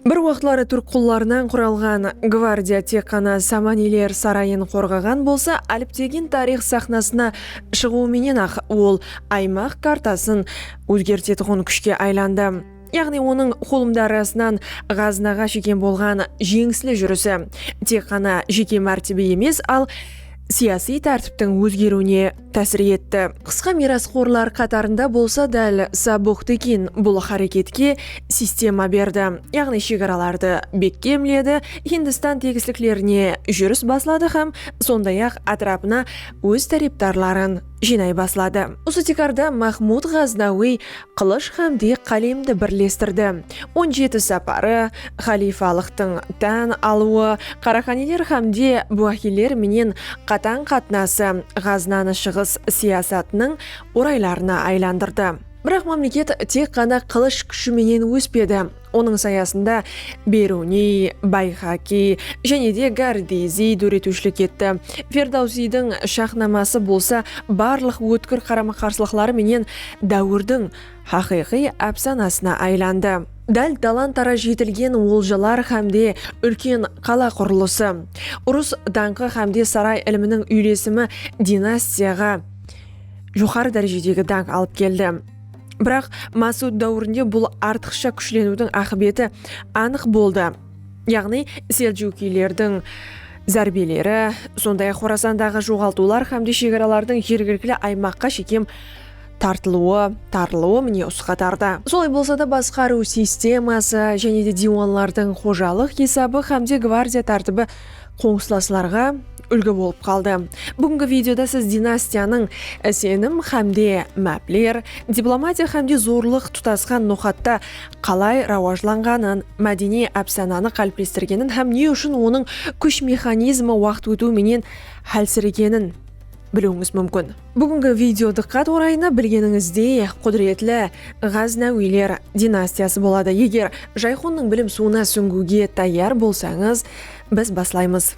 Bir waqıtları túrk qullarınan quralǵan gvardiya tek ǵana Samaniler sarayın qorǵaǵan bolsa, áliptegin tariyx saxnasına shıǵıwı menen-aq ol aymaq kartasın ózgertetuǵın kúshke aylandı. Yaǵnıy onıń xulımdarısınan ǵazınaǵa shekem bolǵan jeńisli júrisi tek ǵana jeke mártebe emes, al siyasıy tártiptiń ózgeriwine tásir etti. Qısqa miyrasxorlar qatarında bolsa dál Sabuq Tekin bul háreketke sistema berdi, yaǵnıy shegaralardı bekkemledi, Hindistan tegisliklerine júris basladı hám sonday-aq átirapına óz tárepdarların jıynay basladı. Usı tiykarda Mahmud Ǵaznawıy Qılısh hám dek qálemdi birlestirdi. On jeti saparı, xalifalıqtıń tán alıwı, qaraxaniler hám de buaxiyler menen qatań qatnası Ǵaznanı shıǵıs siyasatınıń oraylarına aylandırdı. Biraq mámleket tek ǵana qılısh kúshi menen óspedi. Onıń sayasında Beruniy, Bayxakiy jáne de Gardiziy dóretiwshilik etti. Ferdawsiydiń Shaxnaması bolsa barlıq ótkir qarama-qarsılıqları menen dáwirdiń haqıyqıy ápsanasına aylandı. Dál talan-taraj jetilgen oljalar hám de úlken qala qurılısı, urıs dańqı hám de saray iliminiń úylesimi dinastiyaǵa joqarı dárejedegi dańq alıp keldi. Biraq, Masud dáwirinde bul artıqsha kúshleniwdiń aqıbeti anıq boldı, yaǵnıy seljukiylerdiń zárbeleri, sonday-aq Xorasandaǵı joǵaltıwlar hámde shegaralardıń jergilikli aymaqqa shekem tartılıwı, tarılıwı mine usı qatarda. Solay bolsa da, basqarıw sisteması, jáne de diywanlardıń xojalıq esabı hámde gvardiya tártibi qoslaslarǵa úlgi bolıp qaldı. Búgingi videoda siz dinastiyanıń isenim hámde mápler, diplomatiya hámde zorlıq tutasqan noqatta qalay rawajlanǵanın, mádeniy ápsananı qáliplestirgenin hám ne ushın onıń kúsh mexanizmi waqıt ótiw menen hálsiregenin biliwińiz múmkin. Búgingi video dıqqat orayına bilgenińizdey qúdiretli Ǵáznawiyler dinastiyası boladı. Eger Jayxonnıń bilim suwına súńgiwge tayar bolsańız, biz baslaymız.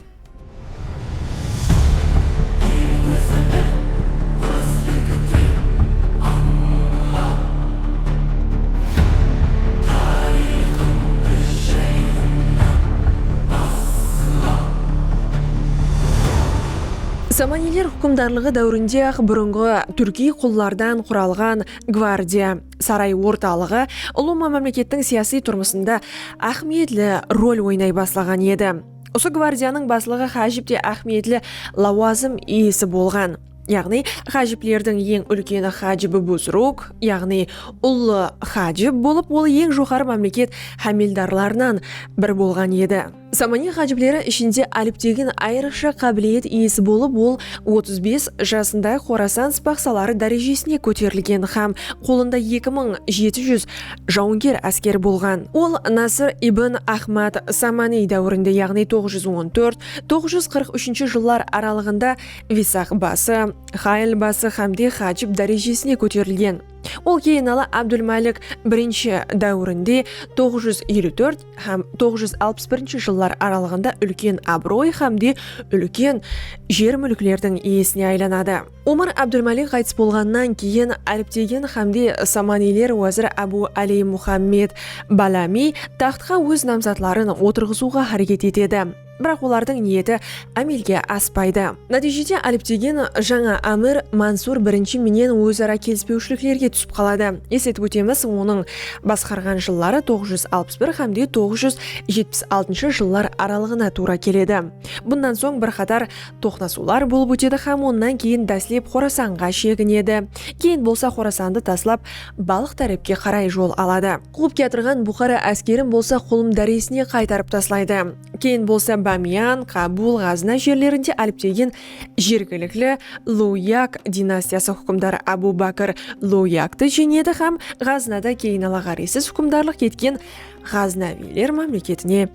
Samaniyler húkimdarlıǵı dáwirinde-aq burınǵı túrkiy qullardan quralǵan gvardiya saray ortalıǵı ulıwma mámlekettiń siyasiy turmısında áhmiyetli rol oynay baslaǵan edi. Usı gvardiyanıń baslıǵı hájip te áhmiyetli lawazım iyesi bolǵan. Yaǵnıy, hájiplerdiń eń úlkeni hájib-i buzruk, yaǵnıy ullı hájib bolıp, ol eń joqarı mámleket hámeldarlarınan biri bolǵan edi. Samaniy ǵájibleri ishinde Álip degen ayrıqsha qábiliyet iyesi bolıp, ol otız bes jasında Xorasan spahsaları dárejesine kóterilgen hám qolında eki mıń jeti júz jawınger áskeri bolǵan. Ol Nasr ibn Ahmad Samaniy dáwirinde, yaǵnıy toǵız júz on tórt, toǵız júz qırq úshinshi jıllar aralıǵında Visaq bası, Xayl bası hámde Xájib dárejesine kóterilgen. Ol keyinala Abdulmálik I dáwirinde, toǵız júz eliw tórt, hám toǵız júz alpıs birinshi jıllar aralıǵında úlken abıroy hám de úlken jer-múlklerdiń iyesine aylanadı. Omar Abdulmalik ǵaytıs bolǵannan keyin Áliptegin hám de Samaniyler wázir Ábu Áliy Muhammed Balami taxtqa óz namzatların otırǵızıwǵa háreket etedi. Biraq olardıń niyeti ámelge aspaydı. Nátiyjede Alip degen jańa ámir Mansur birinshi menen óz-ara kelispewshiliklerge túsip qaladı. Esletip ótemiz, onıń basqarǵan jılları toǵız júz alpıs bir hámde toǵız júz jetpis altınshı jıllar aralıǵına tuwra keledi. Bunnan soń bir qatar toqnasıwlar bolıp ótedi hám onnan keyin dáslep Xorasanǵa sheginedi, keyin bolsa Xorasandı taslap Balx tárepke qaray jol aladı. Quwıp kiyatırǵan Buxara áskerin bolsa Qulım dáresine qaytarıp taslaydı. Keyin bolsa Bámiyan, Qabul, Ǵazna jerlerinde áliptegen jergilikli Luwyak dinastiyası húkimdarı Abu Bakr Luwyaktı jeńedi hám Ǵaznada keyin Alaqariysiz húkimdarlıq etken Ǵaznaviyler mámleketine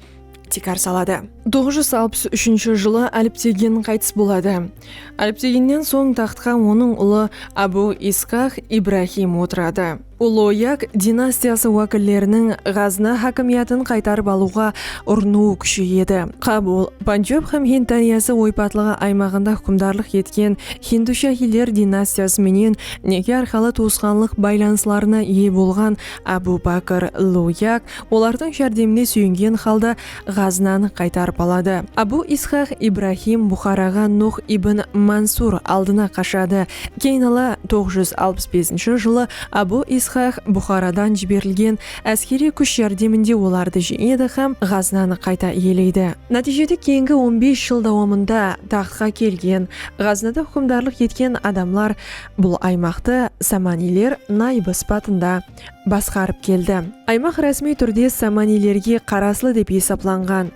tikar saladı. Toǵız júz alpıs úshinshi jılı Áliptegin qaytıs boladı. Álipteginnen soń taxtqa onıń ulı Abu Isxaq Ibrahim otıradı. Uloyak dinastiyası wákilleriniń Ǵazna hákimiyatın qaytarıp alıwǵa urınıwı kúsheyedi. Qabul, Panjab hám Hind dáryası oypatlıǵı aymaǵında húkimdarlıq etken Hindu-Shahiyler dinastiyası menen neke arqalı tuwısqanlıq baylanıslarına iye bolǵan Abu Bakr Loyak olardıń járdemine súyengen halda Ǵaznanı qaytarıp aladı. Abu Isxaq Ibrahim Buxaraǵa Nuh ibn Mansur aldına qashadı. Keyin ala toǵız júz alpıs besinshi jılı Abu Isxaq Buxaradan jiberilgen áskeriy kúsh járdeminde olardı jeńedi hám Ǵaznanı qayta iyeleydi. Nátiyjede keyingi on bes jıl dawamında taxtqa kelgen, Ǵaznada húkimdarlıq etken adamlar bul aymaqtı Samaniyler nayıbı sıpatında, basqarıp keldi. Aymaq rásmiy túrde samaniylerge qaraslı dep esaplanǵan.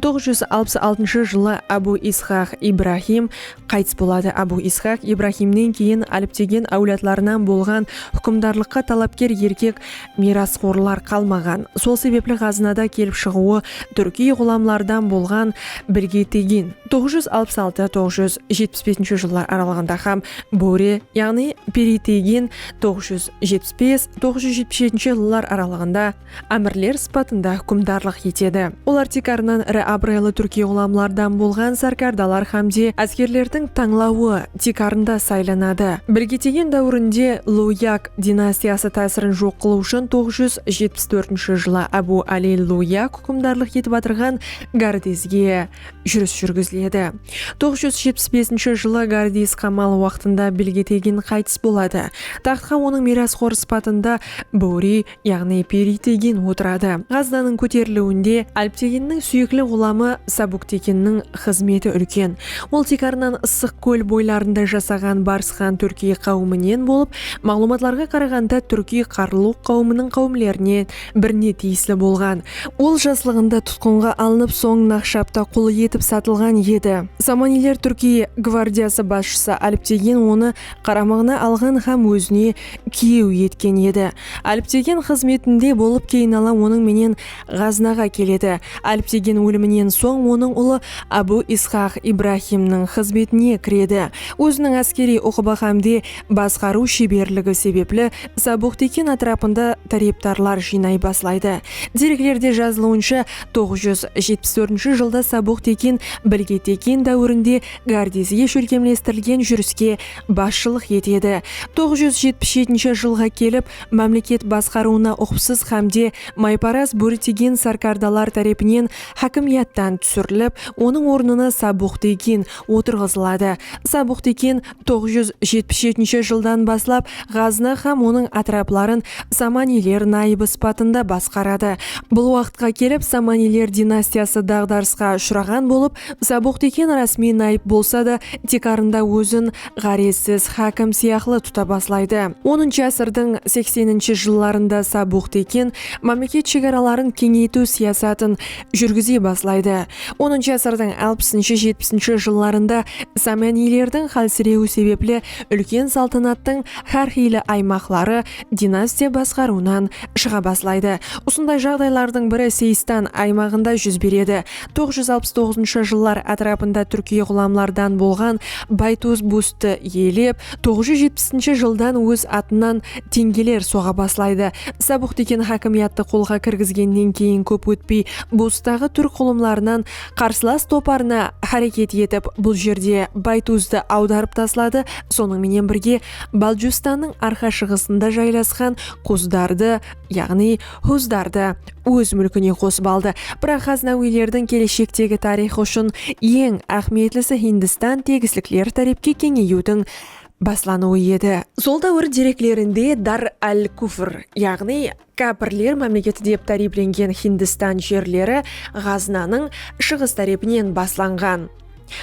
Toǵız júz alpıs altınshı jılı Abu Isxaq Ibrahim qaytıs boladı. Abu Isxaq Ibrahimnen keyin Aliptegen áwladlarınan bolǵan húkimdarlıqqa talapker erkek miyrasxorlar qalmaǵan. Sol sebepli ǵazınada kelip shıǵıwı túrkiy ǵulamlardan bolǵan Birgetegin, toǵız júz alpıs altı, toǵız júz jetpis besinshi jıllar aralıǵında, hám Bóre, yaǵnıy Peritegin, toǵız júz jetpis bes, toǵız júz jetpis jetinshi jıllar aralıǵında ámirler sıpatında húkimdarlıq etedi. Olar tiykarınan iri abıraylı túrkiy ǵulamlardan bolǵan sárkardalar hámde áskerlerdiń tańlawı tiykarında saylanadı. Birgetegen dáwirinde Luyak dinastiyası tásirin joq qılıw ushın toǵız júz jetpis tórtinshi jılı Ábu Áli Luyak húkimdarlıq etip atırǵan Gardezge, júris júrgiziledi. Toǵız júz jetpis besinshi jılı Gardiys qamal waqtında Bilgetegin qaytıs boladı. Taxtqa onıń miyrasxor sıpatında Bóri, yaǵnıy Peritegin otıradı. Ǵaznanıń kóteriliwinde Álpteginniń súyekli ǵulamı Sabuktekinniń xızmeti úlken. Ol tiykarınan Issıq kól boylarında jasaǵan Barsxan túrkiy qáwiminen bolıp, maǵlıwmatlarǵa qaraǵanda túrkiy Qarluq qáwiminiń qáwimlerine birine tiyisli bolǵan. Ol jaslıǵında tutqınǵa alınıp, soń Naqshapta qul etip satılǵan edi. Samaniyler Túrkiye gvardiyası basshısı Alptegen onı qaramıǵına alǵan hám ózine kiyew etken edi. Alptegen xızmetinde bolıp keynala onıń menen Ǵaznaǵa keledi. Alptegen óliminen soń onıń ulı Abu Isxaq Ibrahimniń xızmetine kiredi. Óziniń áskeriy uqıbı hámde basqarıw sheberligi sebepli Sabuqtekin átirapında tárepdarlar jıynay baslaydı. Dereklerde jazılıwınsha, toǵız júz jetpis tórtinshi jılda Sabuqtekin Bilge Tekin dáwirinde Gárdezge shólkemlestirilgen júriske basshılıq etedi. Toǵız júz jetpis jetinshi jılǵa kelip, mámleket basqarıwına uqıpsız hámde mayparaz bóritegen sárkardalar tárepinen hákimiyattan túsirilip, onıń ornına Sabuqtekin otırǵızıladı. Sabuqtekin. toǵız júz jetpis jetinshi jıldan baslap Ǵaznı hám onıń átirapların Samaniyler nayıbı sıpatında basqaradı. Bul waqıtqa kelip Samaniyler dinastiyası daǵdarısqa ushıraǵan bolıp, Sabuqteken rásmiy nayıp bolsa da, tiykarında ózin ǵárezsiz hákim sıyaqlı tuta baslaydı. Onınshı ásirdiń sekseninshi jıllarında Sabuqteken mámleket shegaraların keńeytiw siyasatın júrgize baslaydı. Onıncı ásirdiń alpısınshı-jetpisinshi jıllarında samaniylerdiń xálsirewi sebepli úlken saltanattıń xár xiyli aymaqları dinastiya basqarıwınan shıǵa baslaydı. Usınday jaǵdaylardıń biri Seystan aymaǵında júz beredi. Toǵız júz alpıs toǵızınshı jıllar átirapında túrkiy ǵulamlardan bolǵan Baytuz Bustı iyelep, Toǵız júz jetpisinshi jıldan óz atınan teńgeler soǵa baslaydı. Sabıq dúken hákimiyattı qolǵa kirgizgennen keyin kóp ótpey Bustaǵı túrk ǵulımlarınan qarsılas toparına háreket etip bul jerde Baytuzdı awdarıp tasladı, sonıń menen birge Baljustannıń arqa-shıǵısında jaylasqan Kuzdardı, yaǵnıy, Xuzdardı óz múlkine qosıp aldı. Biraq Xaznawiylerdiń keleshekdegi tariyxı ushın eń áhmiyetlisi Hindistan tegislikleri tárepke keńeyiwdiń baslanıwı edi. Sol dáwir dereklerinde Dar al-Kufr, yaǵnıy Kápirler mámleketi dep táriyiplengen Hindistan jerleri Ǵaznanıń shıǵıs tárepinen baslanǵan.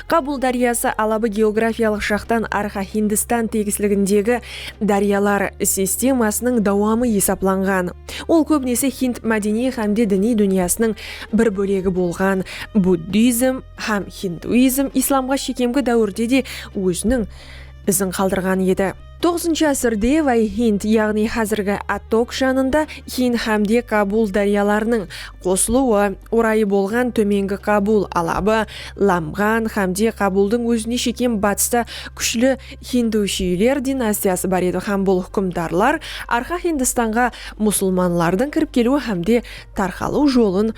Kabul dáryası alabı geografiyalıq jaqtan Arxa Hindistan tegisligindegi dáryalar sistemasınıń dawamı esaplanǵan. Ol kóbinese Hind mádeniy hámde diniy dúnyasınıń bir bólegi bolǵan buddizm hám hinduizm islamǵa shekemgi dáwirde de óziniń izin qaldırǵan edi. Toǵızınshı ásirde Vay Hind, yaǵnıy házirgi Attok janında Hind hámde Kabul dáryalarınıń qosılıwı orayı bolǵan Tómengi Kabul alabı, Lamǵan hámde Kabuldıń ózine shekem batısta kúshli Hindushiyler dinastiyası bar edi hám bul húkimdarlar Arqa Hindistanǵa musulmanlardıń kirip keliwi hámde tarqalıw jolın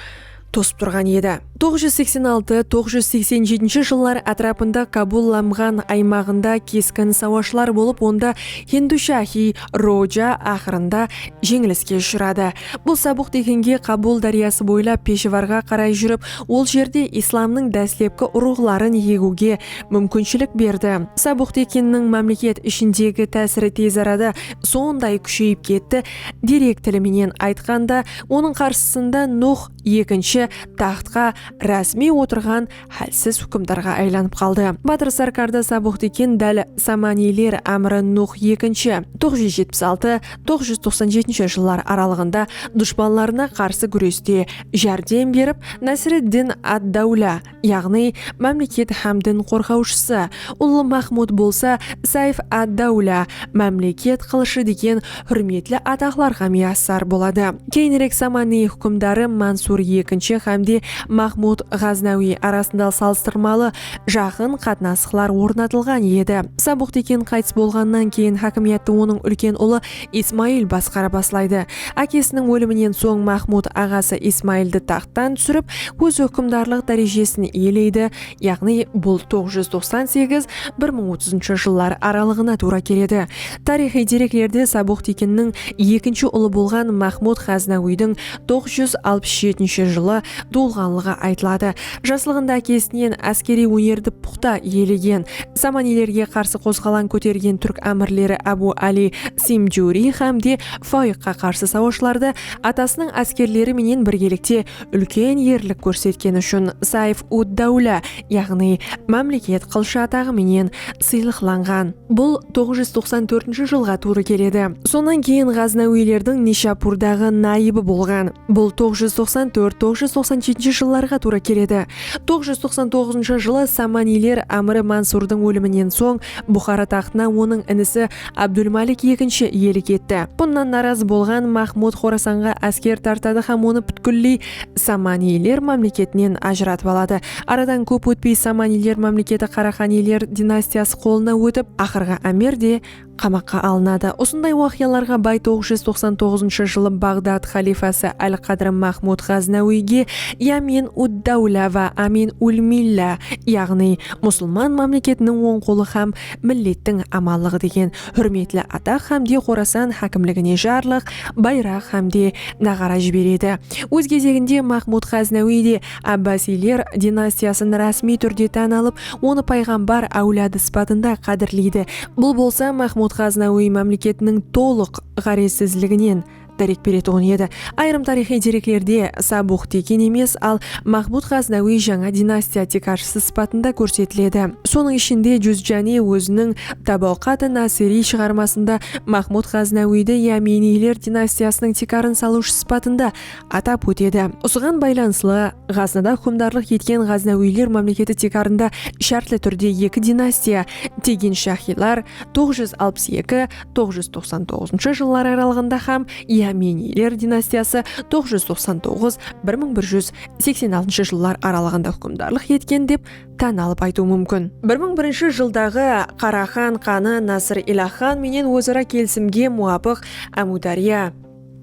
tosıp turǵan edi. Toǵız júz seksen altı, toǵız júz seksen jetinshi jıllar átirapında Kabul Lamǵan aymaǵında keskin sawashlar bolıp onda Hindushahý Roja aqırında jeńiliske ushıradı. Bul sabıq deginge Kabul dáryası boylap Peshevarǵa qaray júrip ol jerde islamnıń dáslepki urıǵların egiwge múmkinshilik berdi. Sabıq deginniń mámleket ishindegi tásiri tezarada sonday kúsheyip ketti, Direkt tili menen aytqanda, onıń qarsısında Nuh ekinshi taxtqa rásmiy otırǵan hálsiz húkimdarǵa aylanıp qaldı. Batır Sárkarda Sabuxdikin dál Samaniyler ámiri Nuh ekinshi, toǵız júz jetpis altı, toǵız júz toqsan jetinshi jıllar aralıǵında dushpanlarına qarsı gúreste járdem berip, Násiriddin ad-Dáwla, yaǵnıy mámleket hám din qorǵawshısı, Ullı Mahmud bolsa Sayf ad-Dawla, Mámleket qılıshı, degen húrmetli ataqlarǵa miyassar boladı. Keyinirek Samanıy húkimdarı Mansur ekinshi hám de Mahmud Ǵaznawiy arasında salıstırmalı jaqın qatnasıqlar ornatılǵan edi. Sabuq Tekin qaytıs bolǵannan keyin hákimiyattı onıń úlken ulı Ismayıl basqara baslaydı. Ákesiniń óliminen soń Maxmud aǵası Ismayıldı taxttan túsirip, óz húkimdarlıq dárejesin iyeleydi, yaǵnıy bul toǵız júz toqsan segiz, bir mıń otızınshı jıllar aralıǵına tuwra keledi. Tariyxıy dereklerde Sabuq Tekinniń ekinshi ulı bolǵan Maxmud Ǵaznawiydiń toqız júz alpıs jetinshi jılı tuwılǵanlıǵı aytıladı. Jaslıǵında ákesinen áskeriy ónerdi puqta iyelegen, Samaniylerge qarsı qozǵalań kótergen túrk ámirleri Ábu Ali Simjuriy hám de Fayıqqa qarsı sawashlarda atasınıń áskerleri menen birgelikte úlken erlik kórsetkeni ushın Sayf-ud-dáwla, yaǵnıy Mámleket qılshı ataǵı menen sıylıqlanǵan. Bul toǵız júz toqsan tórtinshi jılǵa tuwrı keledi. Sonnan keyin ǵaznawiylerdiń Nishapurdaǵı nayıbı bolǵan. Bul toǵız júz toqsan tórt, toǵız júz toqsan jetinshi jıllarǵa tuwrı keledi. Toǵız júz toqsan toǵızınshı jılı Samaniyler ámiri Mansurdıń óliminen soń Buxara taxtına onıń inisi Abdulmalik ekinshi iyelik etti. Bunnan narazı bolǵan Maxmud Xorasanǵa ásker tartadı hám onı pútkilley Samaniyler mámleketinen ajıratıp aladı. Aradan kóp ótpey Samaniyler mámleketi Qaraqaniyler dinastiyası qolına ótip, aqırǵı ámir de qamaqqa alınadı. Usınday waqıyalarǵa bay toǵız júz toqsan toǵızınshı jılı Baǵdad xalifası Al-Qadr Mahmud Ǵaznawiyge Yamin ud-dawla wa Amin ul-milla, yaǵnıy Musılman mámleketiniń oń qolı hám millettiń amanlıǵı degen húrmetli ataq hámde Xorasan hákimligine jarlıq, bayraq hámde naǵara jiberedi. Óz gezeginde Maxmud Ǵáznawıy de Ábbasiyler dinastiyasın rásmiy túrde tán alıp, onı payǵambar áwladı sıpatında qádirleydi. Bul bolsa Maxmud Ǵáznawıy mámleketiniń tolıq ǵárezsizliginen, dárek beretuǵın edi. Ayırım tariyxıy dereklerde Sabux Tekin emes, al Maxmud Ǵaznawiy jańa dinastiya tiykarshısı sıpatında kórsetiledi. Sonıń ishinde Juzjani óziniń Tabaqat-ı Nasiriy shıǵarmasında Maxmud Ǵaznawiydi Yaminiyler dinastiyasınıń tiykarın salıwshı sıpatında atap ótedi. Usıǵan baylanıslı, Ǵaznada húkimdarlıq etken Ǵaznawiyler mámleketi tiykarında shártli túrde eki dinastiya, Tegin-Shahiylar, toǵız júz alpıs eki, toǵız júz toqsan toǵızınshı jıllar aralıǵında hám Iameniyler dinastiyası toǵız júz toqsan toǵız bir mıń bir júz seksen altınshı jıllar aralıǵında húkimdarlıq etken dep tán alıp aytıw múmkin. Bir mıń birinshi jıldaǵı Qaraxan xanı Nasır Ilah xan menen óz-ara kelisimge muwapıq Ámiwdárya,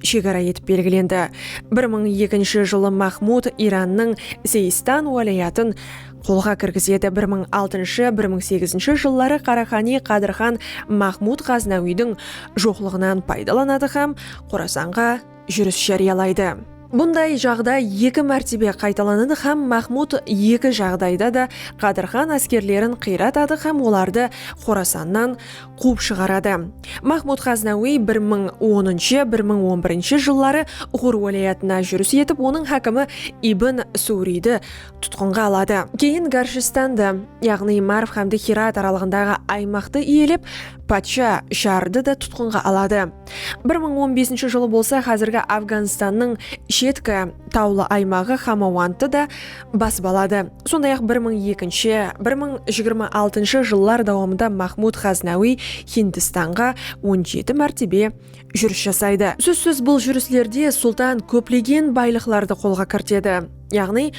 shegara etip belgilendi. Bir mıń ekinshi jılı Mahmud Irannıń Seistan wálayatın qolǵa kirgizedi, bir mıń altınshı, bir mıń segizinshi jılları Qaraxani Qadır xan Mahmud Ǵaznawiydiń joqlıǵınan paydalanadı hám Qorasanǵa júris járiyalaydı. Bunday jaǵday eki mártebe qaytalanadı hám Mahmud eki jaǵdayda da Qadır xan áskerlerin qıyratadı hám olardı Qorasannan quwıp shıǵaradı. Mahmud Ǵaznawiy bir mıń onınshı, bir mıń on birinshi jılları Uǵur wálayatına júris etip, onıń hákimi Ibn Suwriydi tutqınǵa aladı. Keyin Garshistandı, yaǵnıy Marv hámde Hirat aralıǵındaǵı aymaqtı iyelep, patsha Jarrdı da tutqınǵa aladı. Bir mıń on besinshi jılı bolsa házirgi Afganstannıń shetki tawlı aymaǵı Xamawandtı da basıp aladı. Sonday-aq bir mıń ekinshi, bir mıń jigirma altınshı jıllar dawamında Maxmud Ǵaznawiy Hindistanǵa on jeti mártebe júris jasaydı. Sózsiz bul júrislerde sultan kóplegen baylıqlardı qolǵa kirtedi. Yaǵnıy,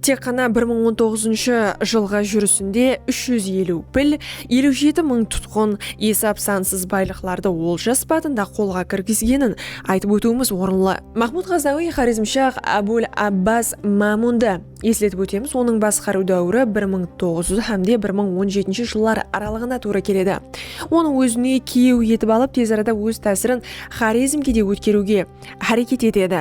tek ǵana bir mıń on toǵızınshı jılǵı júrisinde úsh júz eliw pil, eliw jeti mıń tutqın, esap-sansız baylıqlardı olja sıpatında qolǵa kirgizgenin aytıp ótiwimiz orınlı. Maxmud Ǵaznawiy Xorezmshah Abul Abbas Mámundı esletip ótemiz, onıń basqarıw dáwiri bir mıń toǵız júz hám de bir mıń on jetinshi jıllar aralıǵına tuwrı keledi. Onı ózine kiyew etip alıp, tez arada óz tásirin Xorezmge de ótkeriwge háreket etedi.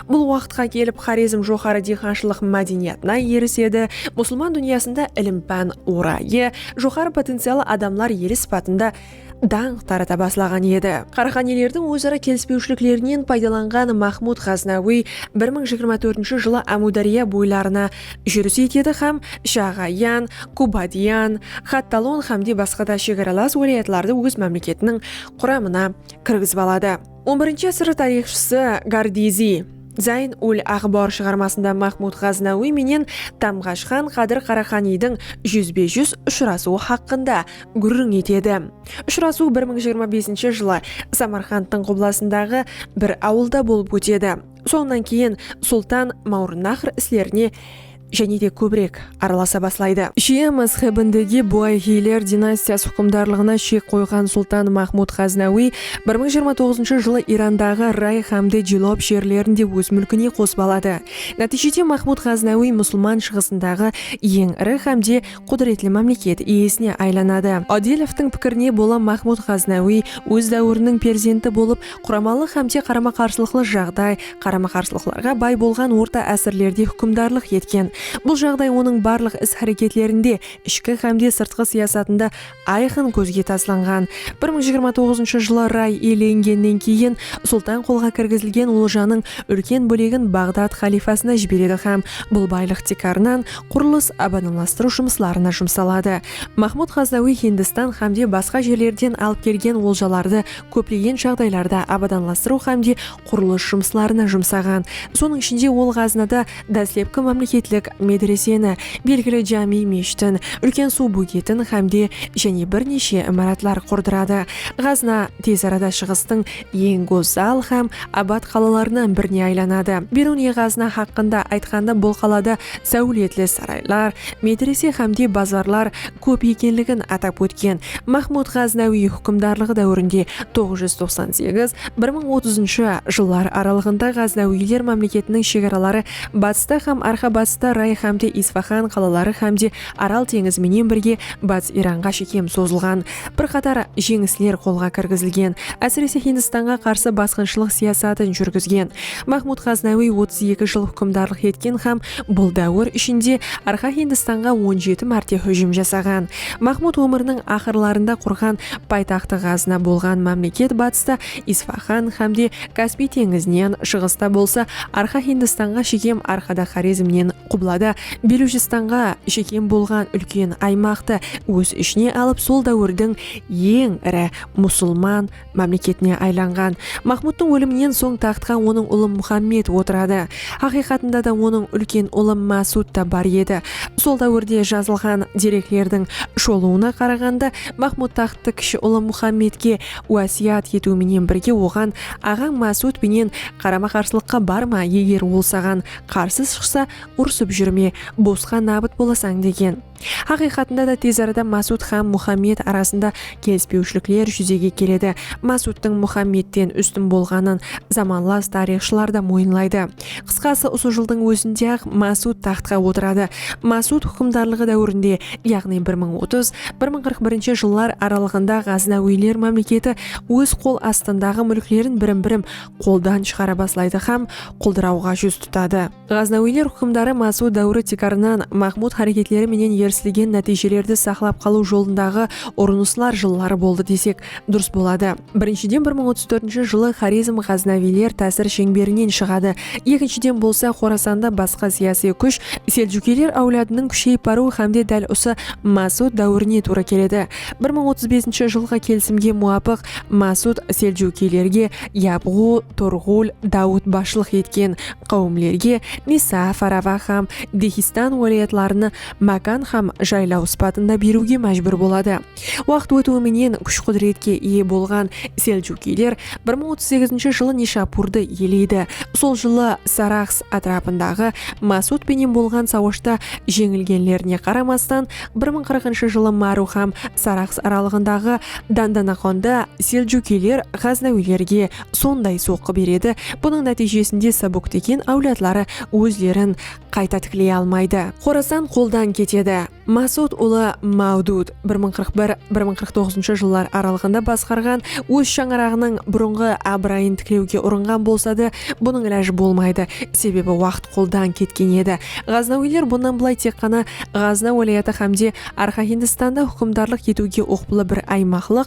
Bul waqıtqa kelip Xorezm joqarı diyqanshılıq mádeniyatına erisedi, musılman dúnyasında ilim-pán orayı, joqarı potencialı adamlar eli sıpatında dańq tarata baslaǵan edi. Qaraqanilerdiń óz-ara kelispewshiliklerinen paydalanǵan Maxmud Ǵaznawıy bir mıń jigirma tórtinshi jılı Ámiwdárya boylarına júris etedi hám Shaǵayan, Kubadiyan, Xattalon hámde basqada shegaralas wálayatlardı óz mámleketiniń quramına kirgizip aladı. On birinshi ásir tariyxshısı Gardizi, Zayn ul Aǵbar shıǵarmasında Maxmud Ǵaznawiy menen Tamǵash xan Qadir Qaraqaniydiń júzbe-júz ushırasıwı haqqında gúrriń etedi. Ushırasıw bir mıń jigirma besinshi jılı Samarqandtıń qublasındaǵı bir awılda bolıp ótedi. Sonnan keyin sultan Mawrınaxr islerine jáne de kóbirek aralasa baslaydı. Shia mázhebindegi Buayhiyler dinastiyası húkimdarlıǵına shek qoyǵan sultan Mahmud Ǵaznawiy bir mıń jigirma toǵızınshı jılı Irandaǵı Ray hámde Jilob jerlerin de óz múlkine qosıp aladı. Nátiyjede Mahmud Ǵaznawiy musılman shıǵısındaǵı eń iri hámde qúdiretli mámleket iyesine aylanadı. Odilovtıń pikirine bola Mahmud Ǵaznawiy óz dáwiriniń perzenti bolıp, Quramalıq hámde qarama-qarsılıqlı jaǵday, qarama-qarsılıqlarǵa bay bolǵan orta ásirlerde húkimdarlıq etken. Bul jaǵday onıń barlıq is-háreketlerinde, ishki hámde sırtqı siyasatında ayqın kózge taslanǵan. Bir mıń jigirma toǵızınshı jılı Ray iyelengennen keyin Sultan qolǵa kirgizilgen oljanıń úlken bólegin Baǵdad xalifasına jiberedi hám bul baylıq tiykarınan qurılıs, abadamlastırıw jumıslarına jumsaladı. Mahmud Ǵazzawiy Hindistan hámde basqa jerlerden alıp kelgen oljalardı kóplegen jaǵdaylarda abadanlastırıw hámde qurılıs jumıslarına jumsaǵan. Sonıń ishinde, ol Ǵaznada dáslepki mámleketlik medreseni, belgili jámi meshtin, úlken suw bógetin hámde jáne bir neshe imaratlar qurdıradı. Ǵazna tez arada Shıǵıstıń eń gózzal hám abat qalalarınan birine aylanadı. Beruniy-Ǵazna haqqında aytqanda bul qalada sáwletli saraylar, medrese hámde bazarlar, kóp ekenligin atap ótken Maxmud Ǵaznawiy húkimdarlıǵı dáwirinde toǵız júz toqsan segiz, bir mıń otızınshı, jıllar aralıǵında Ǵaznawiyler mámleketiniń shegaraları batısta hám arqa-batısta Ray hámde Isfaxan qalaları hámde Aral teńizi menen birge Batıs Iranǵa shekem sozılǵan. Bir qatar jeńisler qolǵa kirgizilgen, ásirese Hindistanǵa qarsı basqınshılıq siyasatın júrgizgen Mahmud Ǵaznawiy otız eki jıl húkimdarlıq etken hám bul dáwir ishinde Arqa Hindistanǵa on jeti márte hújim jasaǵan. Mahmud ómiriniń aqırlarında qurǵan paytaxtı Ǵazna bolǵan mámleket batısta Isfaxan hámde Kaspiy teńizinen, shıǵısta bolsa Arqa Hindistanǵa shekem arqada Xorezmnen, qublada Belujstanǵa shekem bolǵan úlken aymaqtı óz ishine alıp sol dáwirdiń eń iri musılman mámleketine aylanǵan. Maxmudtıń óliminen soń taxtqa onıń ulı Muxammed otıradı. Haqıyqatında da onıń úlken ulı Másud ta bar edi. Sol dáwirde jazılǵan dereklerdiń sholıwına qaraǵanda, Maxmud taxttı kishi ulı Muxammedke wásiyat etiw menen birge oǵan aǵań Másud penen qarama-qarsılıqqa barma, eger ol saǵan qarsı shıqsa urısıp júrme, bosqa nabıt bolasań degen. Haqıyqatında da tez arada Masud hám Muhammed arasında kelispewshilikler júzege keledi. Masudtıń Muhammedten ústin bolǵanın zamanlas tariyxshılar da moyınlaydı. Qısqası usı jıldıń ózinde-aq Masud taxtqa otıradı. Masud húkimdarlıǵı dáwirinde, yaǵnıy bir mıń otız, bir mıń qırq birinshi jıllar aralıǵında ǵaznawiyler mámleketi óz qol astındaǵı múlklerin birim-birim qoldan shıǵara baslaydı hám quldırawǵa júz tutadı. Ǵaznawiyler húkimdarı Masud dáwiri tiykarınan Mahmud háreketleri menen erisilgen nátiyjelerdi saqlap qalıw jolındaǵı urınıslar jılları boldı desek durıs boladı. Birinshiden bir mıń otız tórtinshi jılı Xorezm ǵaznawiyler tásir sheńberinen shıǵadı, ekinshiden bolsa Xorasanda basqa siyasiy kúsh Seljukiyler áwladınıń kúsheyip barıwı hámde dál usı Masud dáwirine tuwra keledi. Bir mıń otız besinshi jılǵı kelisimge muwapıq Masud Seljukiylerge Yabǵu, Turǵul, Dawıt basshılıq etken, qáwimlerge Misa, Farava hám Dehistan wálayatlarını mákan hám jaylaw sıpatında beriwge májbúr boladı. Waqıt ótiwi menen kúsh-qúdiretke iye bolǵan Seljukiyler bir mıń otız segizinshi jılı Nishapurdı iyeleydi. Sol jılı Saraxs átirapındaǵı Masud penen bolǵan sawashta jeńilgenlerine qaramastan, bir mıń qırqınshı jılı Maru hám Saraxs aralıǵındaǵı Dandanaqonda Seljukiyler ǵaznawiylerge sonday soqqı beredi, bunıń nátiyjesinde Sabuktegin áwladları ózlerin qayta tikley almaydı. Xorasan qoldan ketedi. Masud ulı Mawdud bir mıń qırq bir, bir mıń qırq toǵızınshı jıllar aralıǵında basqarǵan óz shańaraǵınıń burınǵı abırayın tiklewge urınǵan bolsadı, bunıń ilajı bolmaydı, sebebi waqıt qoldan ketken edi. Ǵaznawiyler bunnan bılay tek ǵana Ǵazna wálayatı hámde Arxa Hindistanda húkimdarlıq etiwge uqıplı bir aymaqlıq,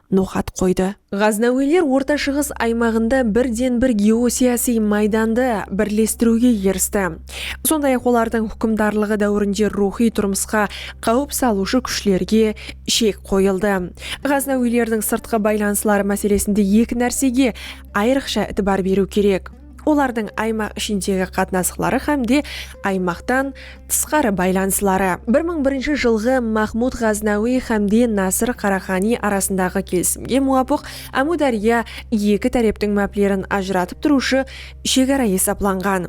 noqat qoydı. Ǵaznawiyler Orta Shıǵıs aymaǵında birden-bir geosiyasiy maydandı birlestiriwge eristi. Sonday-aq, olardıń húkimdarlıǵı dáwirinde ruwxıy turmısqa qáwip salıwshı kúshlerge shek qoyıldı. Ǵaznawiylerdiń sırtqı baylanısları máselesinde eki nársege ayrıqsha itibar beriw kerek. olardıń aymaq ishindegi qatnasıqları hám de aymaqtan tısqarı baylanısları, bir mıń birinshi jılǵı Mahmud Ǵaznawiy hám de Nasır Qaraxaniy arasındaǵı kelisimge muwapıq Ámudárya eki táreptiń máplerin ajıratıp turıwshı shegara esaplanǵan.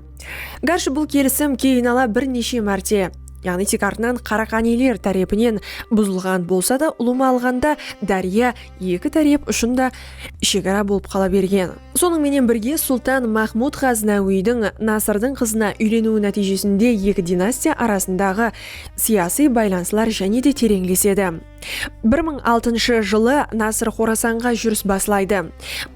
Gárshi bul kelisim keyinala bir neshe márte, yaǵnıy tek artınan Qaraxaniyler tárepinen buzılǵan bolsa da, ulıwma alǵanda dárya eki tárep ushın da shegara bolıp qala bergen. Sonıń menen birge, sultan Maxmud Ǵaznawiydiń Nasırdıń qızına úyleniwi nátiyjesinde eki dinastiya arasındaǵı siyasıy baylanıslar jáne de tereńlesedi. Bir mıń altınshı jılı Nasır Xorasanǵa júris baslaydı.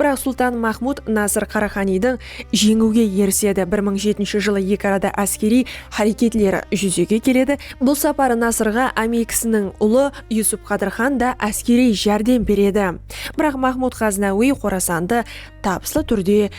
Biraq sultan Maxmud Nasır Qaraxaniydi jeńiwge erisedi, bir mıń jetinshi jılı eki arada áskeriy háreketler júzege keledi, bul saparı Nasırǵa ámekisiniń ulı, Yusup Qadır xan da áskeriy járdem beredi. Biraq Mahmud Ǵaznawiy Xorasandı tabıslı túrde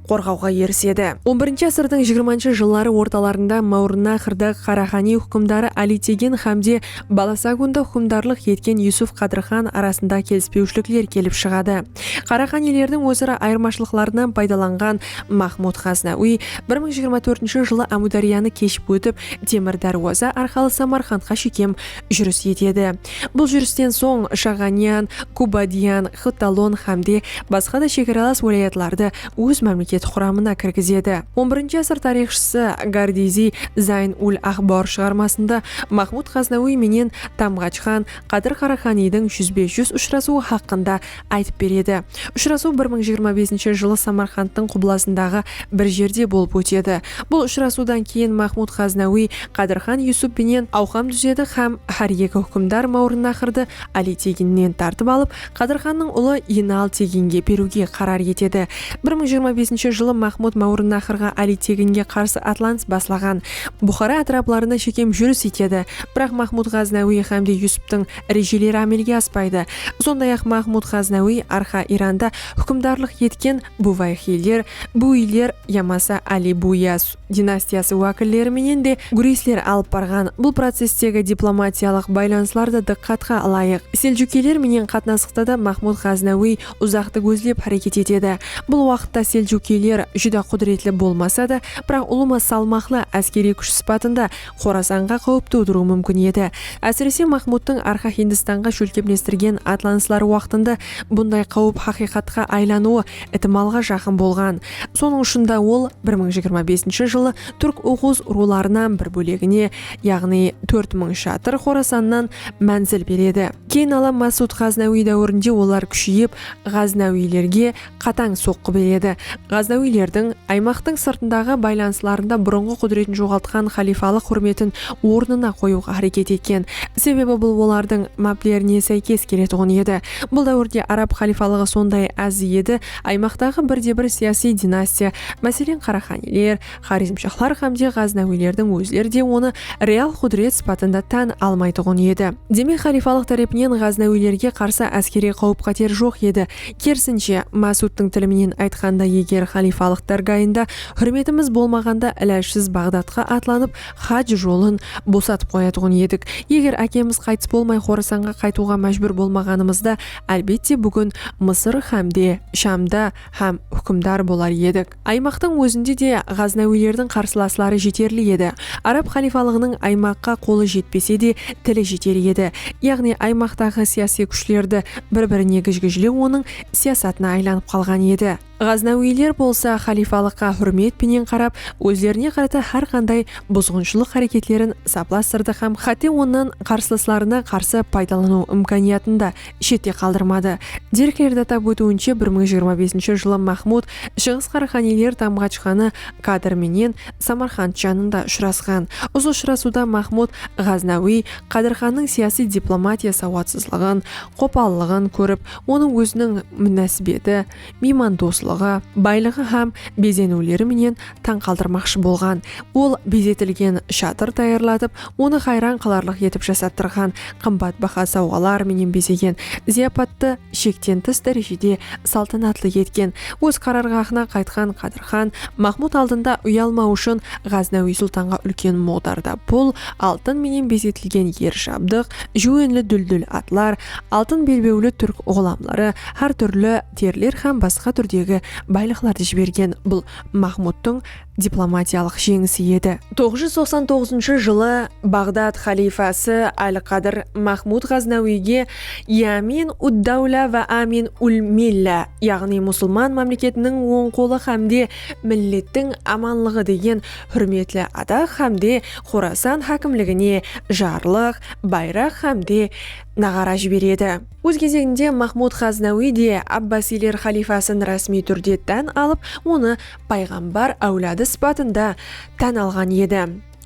qorǵawǵa erisedi. On birinshi ásirdiń jigirmanshı jılları ortalarında Máwrınnaxrdaǵı Qaraxaniy húkimdarı Alitegen xámde Balasagundı húkimdarlıq etken Yusup Qadır xan arasında kelispewshilikler kelip shıǵadı. Qaraxaniylerdiń óz-ara ayırmashılıqlarınan paydalanǵan Mahmud Ǵaznawiy bir mıń jigirma tórtinshi jılı Ámúdáryanı keship ótip Temir Dárwaza arqalı Samarqandqa shekem júris etedi. Bul júristen soń Shaǵanyan, Kubadiyan, Xvtalon hám de basqa da shegaralas wálayatlardı óz mámleketi quramına kirgizedi. On birinshi asır tariyxshısı Gardiziy Zayn-ul-Axbor shıǵarmasında Maxmud Ǵaznawiy menen Tamǵach xan Qadir Qaraxaniydiń júzbe-júz ushırasıwı haqqında aytıp beredi. Ushırasıw bir mıń jigirma besinshi jılı Samarqandtıń qublasındaǵı bir jerde bolıp ótedi. Bul ushırasıwdan keyin Maxmud Ǵaznawiy Qadirxan Yusup penen awqam dúzedi hám hár eki húkimdar Máwrınnaqırdı Ali Teginnen tartıp alıp, Qadirxannıń ulı Inal Teginge beriwge qarar etedi. Bir mıń jigirma besinshi jılı Maxmud Máwrınnaqırǵa Ali Teginge qarsı atlanıs baslaǵan. Buxara átiraplarına shekem júris etedi. Biraq Maxmud Ǵaznawiy hámde Yusuptıń rejeleri ámelge aspaydı. Sonday-aq, Mahmud Ǵaznawiy Arxa Iranda húkimdarlıq etken Buwayxiyler, Buwiyler yamasa Ali Buwiyaz dinastiyası wákilleri menen de gúresler alıp barǵan. Bul processtegi diplomatiyalıq baylanıslar da dıqqatqa ılayıq. Seljukiyler menen qatnasıqta da Mahmud Ǵaznawiy uzaqtı gózlep háreket etedi. Bul waqıtta seljukiyler júdá qúdiretli bolmasa da, biraq ulıwma salmaqlı áskeriy kúsh sıpatında Xorasanǵa qáwip tuwdırıwı múmkin edi. Ásirese, Maxmudtıń Arxa Hindistanǵa shólkemlestirgen atlanısları waqtında bunday qáwip haqıyqatqa aylanıwı itimalǵa jaqın bolǵan. Sonıń ushın da ol bir mıń jigirma besinshi jılı túrk oǵuz ruwlarınan bir bólegine, yaǵnıy tórt mıń shatır Xorasannan mánzil beredi. Keyin ala Másud Ǵaznawıy dáwirinde olar kúsheyip, ǵaznawıylerge, qatań soqqı beredi. Ǵaznawilerdiń aymaqtıń sırtındaǵı baylanıslarında burınǵı qúdiretin joǵaltqan xalifalıq húrmetin ornına qoyıwǵa háreket etken. Sebebi bul olardıń máplerine sáykes keletuǵın edi. Bul dáwirde arab xalifalıǵı sonday áz edi, aymaqtaǵı birde-bir siyasiy dinastiya, máselen, Qaraxaniler, Xorezmshaxlar hám de ǵaznawilerdiń ózleri de onı real qúdiret sıpatında tán almaytuǵın edi. Demek, xalifalıq tárepinen ǵaznawilerge qarsı áskeriy qáwip-qáter joq edi. Kerisinshe, Másudtıń tili menen aytqanda, eger xalifalıq dárgayında húrmetimiz bolmaǵanda, ilajsız Baǵdadqa atlanıp, haj jolın bosatıp qoyatuǵın edik. Eger ákemiz qaytıs bolmay Xorasanǵa qaytıwǵa májbúr bolmaǵanımızda, álbette, búgin Mısır hám de Shamda hám húkimdar bolar edik. Aymaqtıń ózinde de ǵaznawilerdiń qarsılasları jeterli edi. Arab xalifalıǵınıń aymaqqa qolı jetpese de, tili jeter edi. Yaǵnıy aymaqtaǵı siyasiy kúshlerdi bir-birine gijgijlew onıń siyasatına aylanıp qalǵan edi. Ǵaznawiler bolsa xalifalıqqa húrmet penen qarap, ózlerine qarata hár qanday buzǵınshılıq háreketlerin saplastırdı hám hátte onnan qarsılıslarına qarsı paydalanıw imkaniyatın da shette qaldırmadı. Derklerdi atap ótiwinshe bir mıń jigirma besinshi jılı Maxmud Shıǵıs Qaraqaniyler Tamǵachqanı Kadır menen Samarqand janında ushırasqan. Usı ushırasıwda Maxmud Ǵaznawiy Qadirxannıń siyasiy diplomatiya sawatsızlıǵın, qopallıǵın kórip, onıń óziniń múnásibeti, miymandoslıǵı, baylıǵı hám bezeniwleri menen tań qaldırmaqshı bolǵan. Ol bezetilgen shatır tayarlatıp, onı hayran qalarlıq etip jasatırǵan, qımbat baha sawǵalar menen bezegen, zıyapattı shekten tıs dárejede saltanatlı etken. Óz qararǵahına qaytqan Qádirxan Maxmud aldında uyalmaw ushın Ǵáznawiy sultanǵa úlken muǵdarda pul, altın menen bezetilgen er jabdıq, júwenli dúldúl atlar, altın belbewli túrk ǵulamları, hár túrli teriler hám basqa túrdegi baylıqlardı jibergen bul Mahmudtıń diplomatiyalıq jeńisi edi. Toǵız júz toqsan toǵızınshı jılı Baǵdad xalifası Al-Qadir Mahmud Ǵaznawiyge Yamin ud-dawla wa Amin ul-milla, yaǵnıy Musılman mámleketiniń oń qolı hámde Millettiń amanlıǵı degen húrmetli ataq hámde Xorasan hákimligine jarlıq, bayraq hámde naǵara jiberedi. Óz gezeginde Maxmud Ǵaznawiy de abbasiyler xalifasın rásmiy túrde tán alıp, onı payǵambar áwladı sıpatında tán alǵan edi.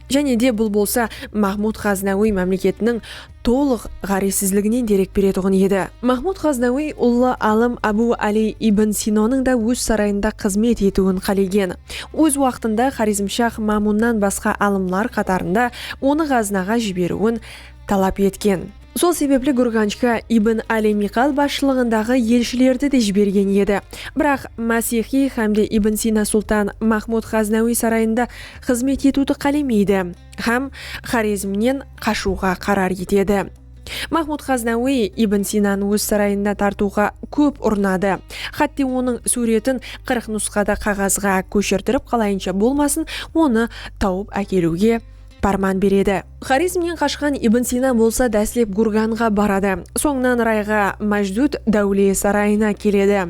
Jáne de bul bolsa Maxmud Ǵaznawiy mámleketiniń tolıq ǵárezsizliginen derek beretuǵın edi. Maxmud Ǵaznawiy ullı alım Abu Ali ibn Sinonıń da óz sarayında xızmet etiwin qálegen. Óz waqtında xorezmshax Mamunnan basqa alımlar qatarında onı Ǵaznaǵa jiberiwin talap etken. Sol sebepli Gurganjga Ibn Ali Miqal basshılıǵındaǵı elshilerdi de jibergen edi. Biraq Masixiy hámde Ibn Sina sultan Mahmud Ǵaznawiy sarayında xızmet etiwdi qálemeydi hám Xorezmnen qashıwǵa qarar etedi. Mahmud Ǵaznawiy Ibn Sinanı óz sarayına tartıwǵa kóp urınadı, xátte onıń súwretin qırıq nusqada qaǵazǵa kóshirdirip qalayınsha bolmasın onı tawıp ákeliwge párman beredi. Xorezmnen qashqan Ibn Sina bolsa dáslep Gurganǵa baradı, sońınan Rayǵa, Májdúd, dáwle, sarayına keledi.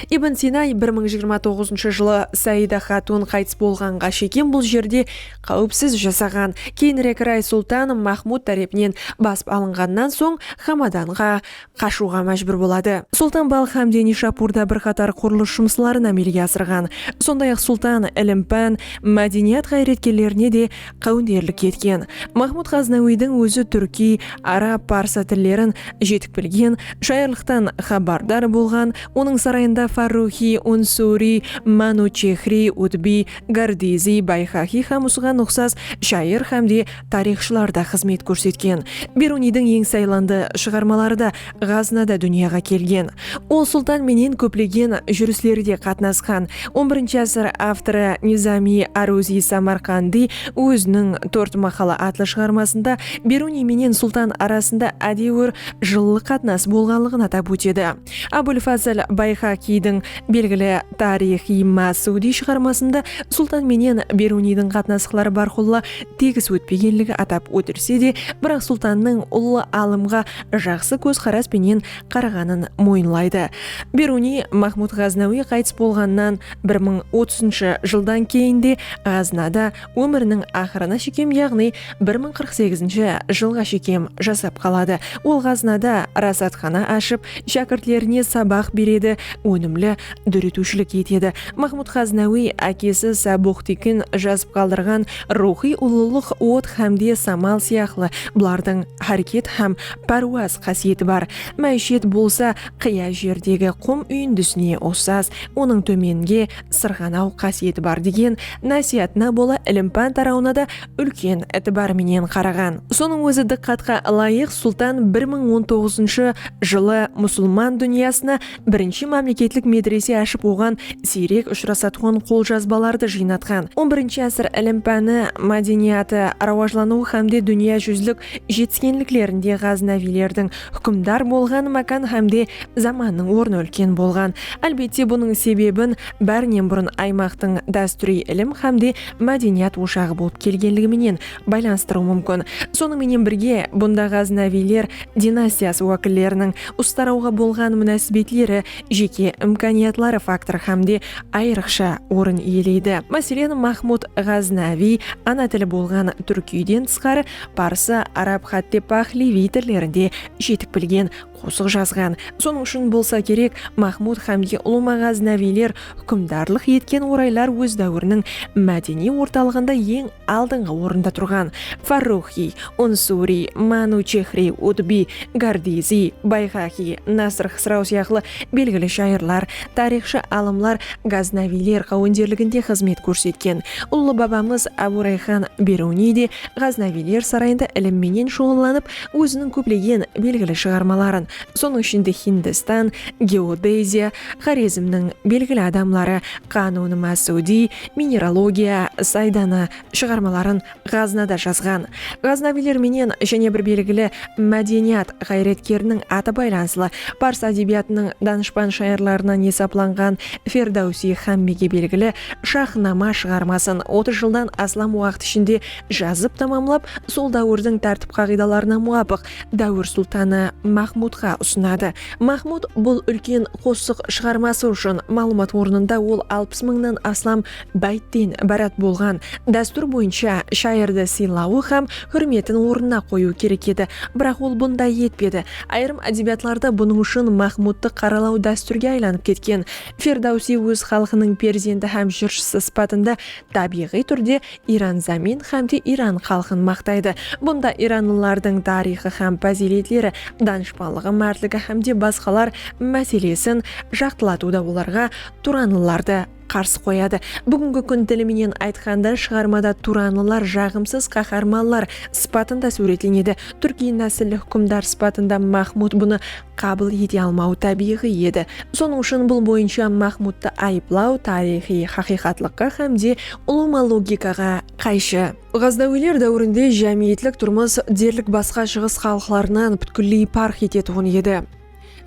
Ibn Sina bir mıń jigirma toǵızınshı jılı Saida xatun qaytıs bolǵanǵa shekem bul jerde qáwipsiz jasaǵan, keyinirek Ray sultan Maxmud tárepinen basıp alınǵannan soń Xamadanǵa qashıwǵa májbúr boladı. Sultan Balx hámde Nishapurda bir qatar qurılıs jumısların ámelge asırǵan. Sonday-aq, Sultan ilim-pán, mádeniyat ǵayretkerlerine de qáwinderlik etken. Mahmud Ǵaznawiydiń ózi túrkiy, arab, parsı tillerin jetik bilgen, shayırlıqtan xabardar bolǵan, onıń sarayında Farruxiy, Unsuriy, Manuchexriy, Utbiy, Gardiziy, Bayxaxiy hám usıǵan uqsas shayır hámde Tariyxshılar da xızmet kórsetken. Beruniydiń eń saylandı shıǵarmaları da Ǵaznada dúnyaǵa kelgen. Ol sultan menen kóplegen júrislerde qatnasqan. On birinshi ásir avtorı Nizamiy Aruziy Samarqandiy óziniń Tórt maqala atlı shıǵarmasında Beruniy menen sultan arasında ádewir jıllıq qatnas bolǵanlıǵın atap ótedi. Abul Fazl Bayxaqiydiń belgili Tarix-i Masudiy shıǵarmasında sultan menen Beruniydiń qatnasıqları bárqulla tegis ótpegenligi atap ótilse de, biraq Sultannıń ullı alımǵa jaqsı kózqaras penen qaraǵanın moyınlaydı. Beruniy Mahmud Ǵaznawiy qaytıs bolǵannan bir mıń otızınshı jıldan keyin de Ǵaznada ómiriniń aqırına shekem yaǵnıy bir mıń qırq segizinshi jılǵa shekem jasap qaladı. Ol Ǵaznada rasatxana ashıp, shákirtlerine sabaq beredi, ónimli dóretiwshilik etedi. Maxmud Xáznawiy ákesi Sábuxtikin jazıp qaldırǵan Ruwxıy ulılıq, Ot hámde samal sıyaqlı bulardıń háreket hám párwaz qásiyeti bar. Máishet bolsa qıya jerdegi qum úyindisine uqsas, onıń tómenge sırǵanaw qásiyeti bar degen násiyatına bola ilim-pán tarawına da úlken itibar menen qaraǵan. Sonıń ózi dıqqatqa ılayıq, Sultan bir mıń on toǵızınshı jılı musulman dúnyasına Birinshi mámleketlik medrese ashıp oǵan siyrek ushırasatuǵın qoljazbalardı jıynatqan, on birinshi ásir ilim-páni, mádeniyatı, rawajlanıwı hámde dúnya júzlik jetiskenliklerinde ǵáznawiylerdiń húkimdar bolǵan mákan hámde zamannıń ornı úlken bolǵan. Álbette bunıń sebebin bárinen burın aymaqtıń dástúriy ilim hámde mádeniyat oshaǵı bolıp kelgenligi menen baylanıstırıw múmkin. Sonıń menen birge, bunda ǵáznawiyler dinastiyası wákilleriniń ustarawǵa bolǵan múnásibetleri, jeke imkaniyatları faktorı hám de ayrıqsha orın iyeleydi. Máselen, Mahmud Ǵáznawiy ana tili bolǵan túrkiyden tısqarı, parsı, arab hátte páhleviy tillerinde jetik bilgen, qosıq jazǵan. Sonıń ushın bolsa kerek, Maxmud xámge ulıwma ǵáznawiyler húkimdarlıq etken oraylar óz dáwiriniń mádeniy ortalıǵında eń aldıńǵı orında turǵan Farruxıy, Unsuriy, Manuchexriy, Utbiy, Gardiziy, Bayxaxiy, Nasr-Xsraw sıyaqlı belgili shayırlar, tariyxshı alımlar ǵáznawiyler qáwenderliginde xızmet kórsetken. Ullı babamız Ábu Rayxan Beruniy de ǵáznawiyler sarayında ilim menen shuǵıllanıp, Óziniń kóplegen belgili shıǵarmaların, sonıń ishinde Hindistan, geodeziya, Xorezmniń belgili adamları, Qanun-ı Másúdiy, mineralogiya, Saydanı, shıǵarmaların Ǵaznada jazǵan. Ǵaznaviyler menen jáne bir belgili mádeniyat ǵayretkeriniń atı baylanıslı, pars ádebiyatınıń danıshpan shayırlarınan esaplanǵan Ferdawsiy xámmege belgili Shahnama shıǵarmasın otız jıldan aslam waqıt ishinde jazıp tamamlap, sol dáwirdiń tártip-qaǵıydalarına muwapıq dáwir sultanı Maxmudqa usınadı. Maxmud bul úlken qosıq shıǵarması ushın maǵlıwmat ornında ol alpıs mıńnan aslam báytten ibarat bolǵan dástúr boyınsha shayırdı sıylawı hám húrmetin ornına qoyıwı kerek edi. Biraq ol bunday etpedi. Ayırım ádebiyatlarda bunıń ushın Maxmudtı qaralaw dástúrge aylanıp ketken. Ferdawsiy óz xalqınıń perzendi hám jırshısı sıpatında tábiyǵıy túrde Iran zamin hám de Iran xalqın maqtaydı. Bunda iranlılardıń tariyxı hám pazıyletleri, danıshpanlıǵı, mártligi hám de basqalar máselesin jaqtılatıwda olarǵa turanlılardı qarsı qoyadı. Búgingi kún tili menen aytqanda shıǵarmada turanlılar jaǵımsız qaharmanlar sıpatında súwretlenedi. Túrkiy násilli húkimdar sıpatında Mahmud bunı qabıl ete almawı tábiyǵıy edi. Sonıń ushın bul boyınsha Maxmudtı ayıplaw tariyxıy haqıyqatlıqqa hám de ulıwma logikaǵa qayshı. Ǵaznaviler dáwirinde jámiyetlik turmıs derlik basqa shıǵıs xalıqlarınan pútkilley parq etetuǵın edi.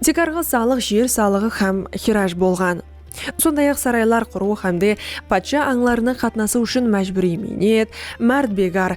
Tek arǵı salıq jer salıǵı hám xiraj bolǵan. Sonday-aq saraylar qurıw hám de patsha ańlarına qatnasıw ushın májbúriy miynet, márdbegar,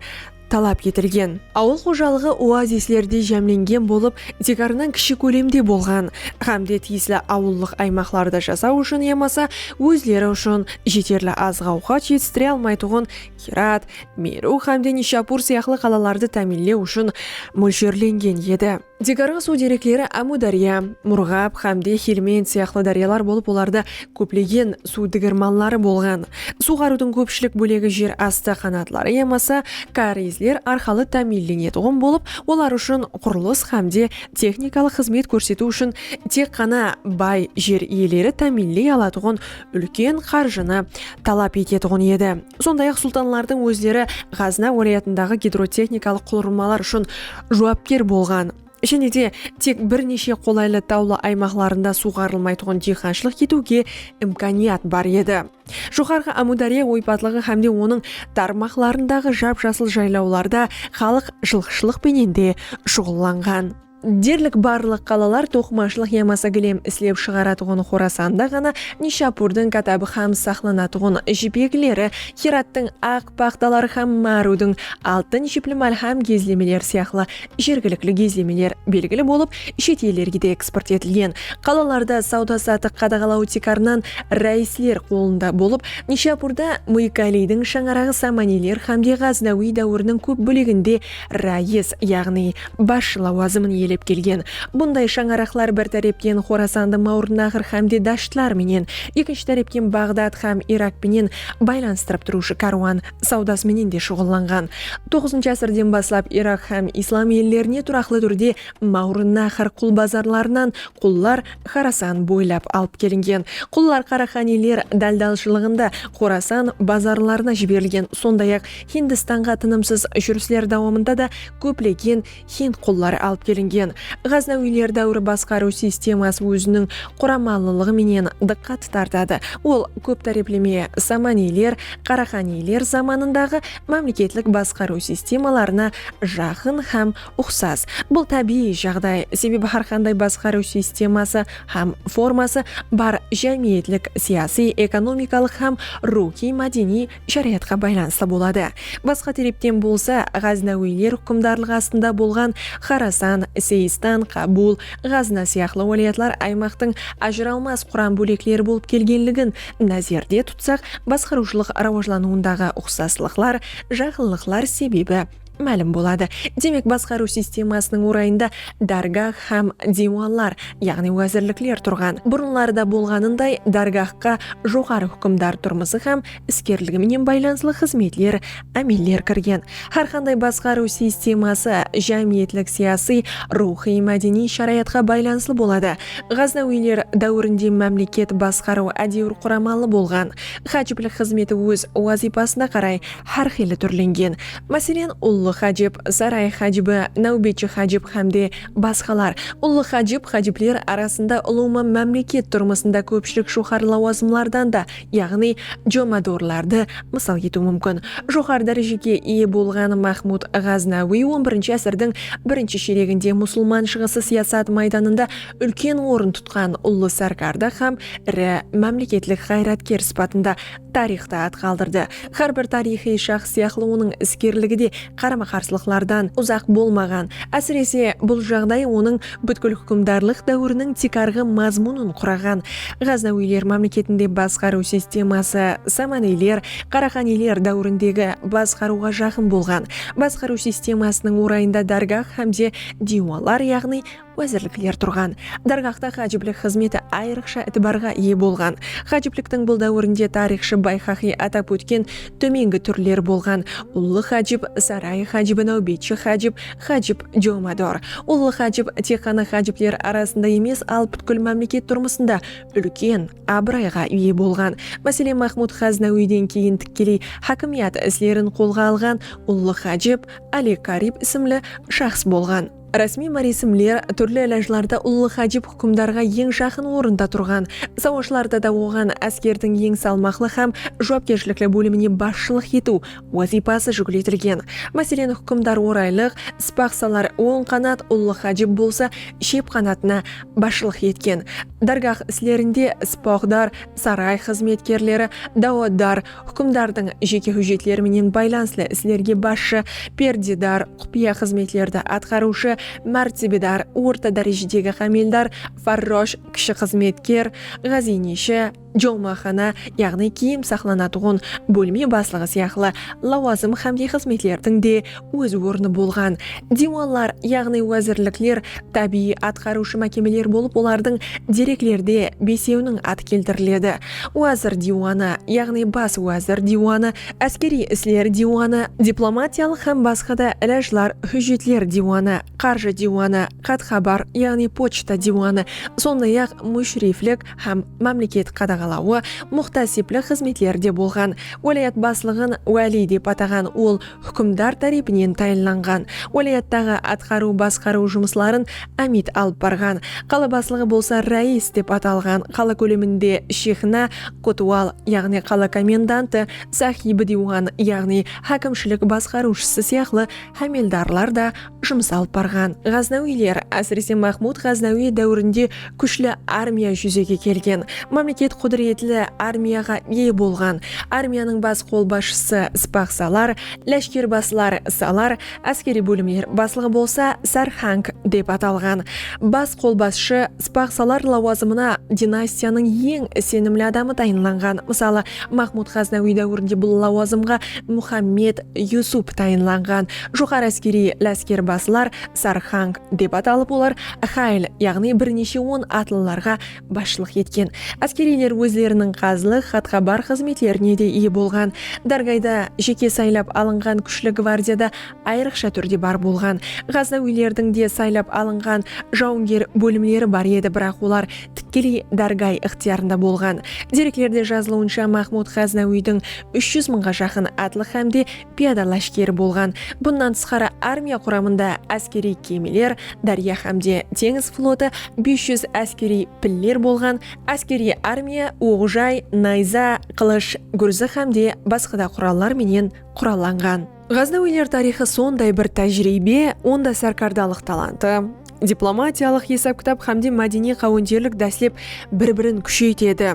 talap etilgen. Awıl xojalıǵı oazislerde jámlengen bolıp, tiykarınan kishi kólemde bolǵan hám de tiyisli awıllıq aymaqlarda jasaw ushın yamasa ózleri ushın jeterli azıq-awqat jetistire almaytuǵın Girat, Merw hám de Nishapur sıyaqlı qalalardı táminlew ushın mólsherlengen edi. Tiykarǵı suw derekleri Ámudárya, Murǵab, Xámde, Xelmend sıyaqlı dáryalar bolıp olarda kóplegen suw digirmanları bolǵan. Suwǵarıwdıń kópshilik bólegi jer astı qanatları yamasa kárezler arqalı támiyinlenetuǵın bolıp, olar ushın qurılıs xámde texnikalıq xızmet kórsetiw ushın tek ǵana bay jer iyeleri támiyinley alatuǵın úlken qarjını talap etetuǵın edi. Sonday-aq, sultanlardıń ózleri Ǵazna wálayatındaǵı gidrotexnikalıq qulırmalar ushın juwapker bolǵan, jáne de tek bir neshe qolaylı tawlı aymaqlarında suwǵarılmaytuǵın diyqanshılıq etiwge imkaniyat bar edi. Joqarǵı Ámúdárya oypatlıǵı hám de onıń tarmaqlarındaǵı jap-jasıl jaylawlarda xalıq jılqıshılıq penen de shuǵıllanǵan. Derlik barlıq qalalar toqımashılıq yamasa gilem islep shıǵaratuǵın Xorasanda ǵana Nishapurdıń katabı hám saqlanatuǵın jipekleri, Hirattıń aq paxtaları hám Márudıń altın jipli málhám gezlemeleri sıyaqlı jergilikli gezlemeler belgili bolıp, shet ellerge de eksport etilgen. Qalalarda sawda-satıq qadaǵalaw tiykarınan ráisler qolında bolıp, Nishapurda Muykaliydiń shańaraǵı samaniyler hámde Ǵaznawiy dáwiriniń kóp bóleginde Ráis, yaǵnıy, basshı lawazımın iyelep kelgen bunday shańaraqlar bir tárepten Xorasandı Mawrınnaǵır hámde Dashtlar menen, ekinshi tárepten Baǵdad hám Irak penen baylanıstırıp turıwshı kárwan sawdası menen de shuǵıllanǵan. Toǵızınshı ásirden baslap Irak hám islam ellerine turaqlı túrde Mawrınnaǵır qulbazarlarınan qullar Xorasan boylap alıp kelingen. Qullar qaraxaniler dáldalshılıǵında Xorasan bazarlarına jiberilgen, sonday-aq, Hindistanǵa tınımsız júrisler dawamında da kóplegen hind qulları alıp kelingen. Ǵaznawiyler dáwiri basqarıw sisteması óziniń quramalılıǵı menen dıqqat tartadı, ol kóp tárepleme Samaniyler, Qaraqaniyler zamanındaǵı mámleketlik basqarıw sistemalarına jaqın hám uqsas. Bul tábiyiy jaǵday, sebebi hár qanday basqarıw sisteması hám forması bar jámiyetlik, siyasiy, ekonomikalıq hám ruwxıy-mádeniy sharayatqa baylanıslı boladı. Basqa terepten bolsa, ǵáznawiyler huqımdarlıǵı astında bolǵan Xorasan, Seistan, Qabul, Ǵazna sıyaqlı wálayatlar aymaqtıń ajıralmas quram bólekleri bolıp kelgenligin názerde tutsaq, basqarıwshılıq rawajlanıwındaǵı uqsaslıqlar, jaqınlıqlar sebebi, málim boladı. Demek, basqarıw sistemasınıń orayında dárgah hám diywanlar, yaǵnıy wázirlikler turǵan. Burınlarda bolǵanınday, dárgahqa joqarı húkimdar turmısı hám iskerligi menen baylanıslı xızmetler, ámeller kirgen. Hár qanday basqarıw sisteması jámiyetlik-siyasıy, ruwxıy-mádeniy sharayatqa baylanıslı boladı. Ǵaznawiyler dáwirinde mámleket basqarıw ádewir quramalı bolǵan. Hájiplik xızmeti óz wazıypasına qaray hár qıylı túrlengen, máselen, Ullı hájip, Saray hájibi, Náwbetshi hájip hám de basqalar. Ullı hájip, hájipler arasında ulıwma mámleket turmısında kópshilik joqarı lawazımlardan da, yaǵnıy jomadorlardı mısal etiw múmkin. Joqarı dárejege iye bolǵan Mahmud Ǵaznawiy on birinshi ásirdiń birinshi shereginde musılman shıǵısı siyasat maydanında úlken orın tutqan ullı sárkarda hám iri mámleketlik ǵayratker sıpatında tariyxta at qaldırdı. Hár bir tariyxıy shaxs sıyaqlı onıń iskerligi de qarama-qarsılıqlardan uzaq bolmaǵan. Ásirese, bul jaǵday onıń bútkil húkimdarlıq dáwiriniń tiykarǵı mazmunın quraǵan. Ǵaznawiyler mámleketinde basqarıw sisteması Samaniyler, Qaraqaniyler dáwirindegi basqarıwǵa jaqın bolǵan. Basqarıw sistemasınıń orayında dárgah hám de diywanlar, yaǵnıy, Wázirlikler turǵan dárgahta hájiplik xızmeti ayrıqsha itibarǵa iye bolǵan. Hájipliktiń bul dáwirinde tariyxshı Bayxaqiy atap ótken tómengi túrler bolǵan, ullı hájip, saray hájibi, náwbetshi hájip, hájip jomador. Ullı hájip tek ǵana hájipler arasında emes, al pútkil mámleket turmısında úlken abırayǵa iye bolǵan. Máselen, Maxmud Ǵáznawiyden keyin tikkeley hákimiyat islerin qolǵa alǵan ullı hájip Áli Karib ismli shaxs bolǵan. Rásmiy máresimler, túrli ilajlarda ullı hajib húkimdarǵa eń jaqın orında turǵan, sawashlarda da oǵan, áskerdiń eń salmaqlı hám juwapkershilikli bólimine basshılıq etiw wazıypası júkletilgen. Máselen, húkimdar oraylıq, spaqsalar, oń qanat, ullı hajib bolsa shep qanatına basshılıq etken. Dárgah islerinde spoqdar, saray xızmetkerleri, dawatdar, Húkimdardıń jeke hújjetleri menen baylanıslı islerge basshı, perdedar, qupıya xızmetlerdi atqarıwshı, mártebedar, orta dárejedegi xámeldar, farrosh, kishi xızmetker, ǵáziyneshi, jolmaxana, yaǵnıy kiyim saqlanatuǵın bólme baslıǵı sıyaqlı lawazım xámde xızmetlerdiń de óz ornı bolǵan, diwanlar, yaǵnıy wázirlikler, tábiyiy atqarıwshı mákemeler bolıp olardıń dereklerde besewiniń atı keltiriledi, wázir diwanı, yaǵnıy bas wázir diwanı, áskeriy isler diwanı, diplomatiyalıq hám basqa da ilajlar, hújjetler diwanı, qarjı diwanı, xat-xabar, yaǵnıy pochta diwanı, sonday-aq, múshiriflik hám mámleket qadaǵalawı, muxtasiplik xızmetleri de bolǵan. Wálayat baslıǵın wáliy dep ataǵan ol, húkimdar tárepinen tayınlanǵan, wálayattaǵı atqarıw-basqarıw jumısların ámiyt alıp barǵan, qala baslıǵı bolsa ráyis dep atalǵan, qala kóleminde shexna, kotwal, yaǵnıy qala komendantı, sahib-diwan, yaǵnıy hákimshilik basqarıwshısı sıyaqlı hámeldarlar da jumıs alıp barǵan. Ǵaznawiyler, ásirese Maxmud Ǵaznawiy dáwirinde kúshli armiya júzege kelgen, mámleket qúdiretli armiyaǵa iye bolǵan, armiyanıń bas qolbasshısı Spaxsalar, láshkerbasılar Salar, áskeriy bólimler baslıǵı bolsa Sarxank dep atalǵan. Bas qolbasshı Spaxsalar lawazımına dinastiyanıń eń isenimli adamı tayınlanǵan, mısalı, Maxmud Ǵaznawiy dáwirinde bul lawazımǵa Muxammed Yusup tayınlanǵan, Joqarı áskeriy láskerbazılar, sarxang, dep atalıp olar xayl, yaǵnıy bir neshe on atlılarǵa basshılıq etken. Áskeriyler ózleriniń qazılıq, xatxabar xızmetlerine de iye bolǵan. Dárgayda jeke saylap alınǵan kúshli gvardiyada ayrıqsha túrde bar bolǵan. Ǵaznawiylerdiń de saylap alınǵan jawınger bólimleri bar edi, biraq olar tikkeley dárgay ıqtıyarında bolǵan. Dereklerde jazılıwınsha Mahmud Ǵaznawiydiń úsh júz mıńǵa jaqın atlı xám de piyada láshkeri bolǵan, bunnan tısqarı armiya quramında áskeriy kemiler, dárya hámde teńiz flotı, bes júz áskeriy piller bolǵan, áskeriy armiya oq-jay, nayza, qılısh, gúrzi hámde basqada qurallar menen qurallanǵan. Ǵaznawiyler tariyxı sonday bir tájiriybe, onda sárkardalıq talantı, diplomatiyalıq esap-kitap hámde mádeniy qáwenterlik dáslep bir-birin kúsheytedi.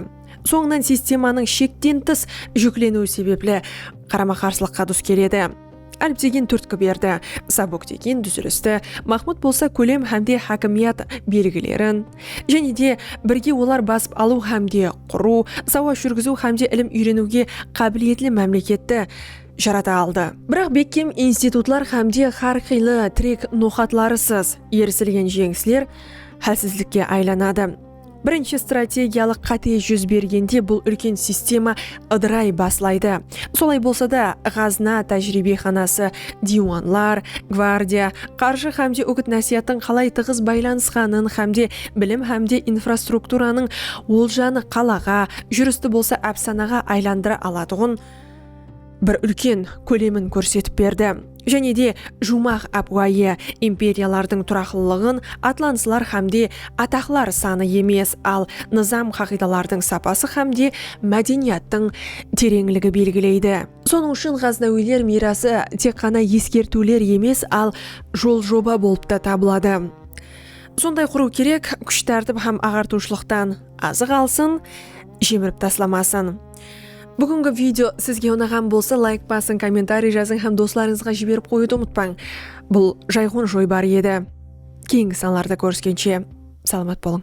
Sońınan sistemanıń shekten tıs júkleniwi sebepli qarama-qarsılıqqa dus keledi. Alp degen túrtki berdi, Sabuk degen dúzilisti, Maxmud bolsa kólem hámde hákimiyat belgilerin, jáne de birge olar basıp alıw hámde qurıw, sawash júrgiziw hámde ilim úyreniwge qábiliyetli mámleketti jarata aldı. Biraq bekkem institutlar hámde hár qıylı tirek noqatlarısız erisilgen jeńisler hálsizlikke aylanadı. Birinshi strategiyalıq qáte júz bergende bul úlken sistema ıdıray baslaydı. Solay bolsa da, Ǵazna tájiriybexanası, diywanlar, gvardiya, qarjı hámde úgit-násiyattıń qalay tıǵız baylanısqanın hámde bilim hámde infrastrukturanıń oljanı qalaǵa, júristi bolsa ápsanaǵa aylandıra alatuǵın, bir úlken kólemin kórsetip berdi. Jáne de juwmaq ápiwayı imperiyalardıń turaqlılıǵın atlanıslar hám de ataqlar sanı emes, al nızam-qaǵıydalardıń sapası hám de mádeniyattıń tereńligi belgileydi. Sonıń ushın ǵaznawiyler miyrası tek ǵana eskertiwler emes, al jol-joba bolıp ta tabıladı. Sonday qurıw kerek, kúsh-tártip hám aǵartıwshılıqtan azıq alsın, jemirip taslamasın. Búgingi video sizge unaǵan bolsa layk basıń, kommentariy jazıń hám doslarıńızǵa jiberip qoyıwdı umıtpań. Bul jayǵon joybar edi. Keyingi sanlarda kóriskenshe salamat bolıń.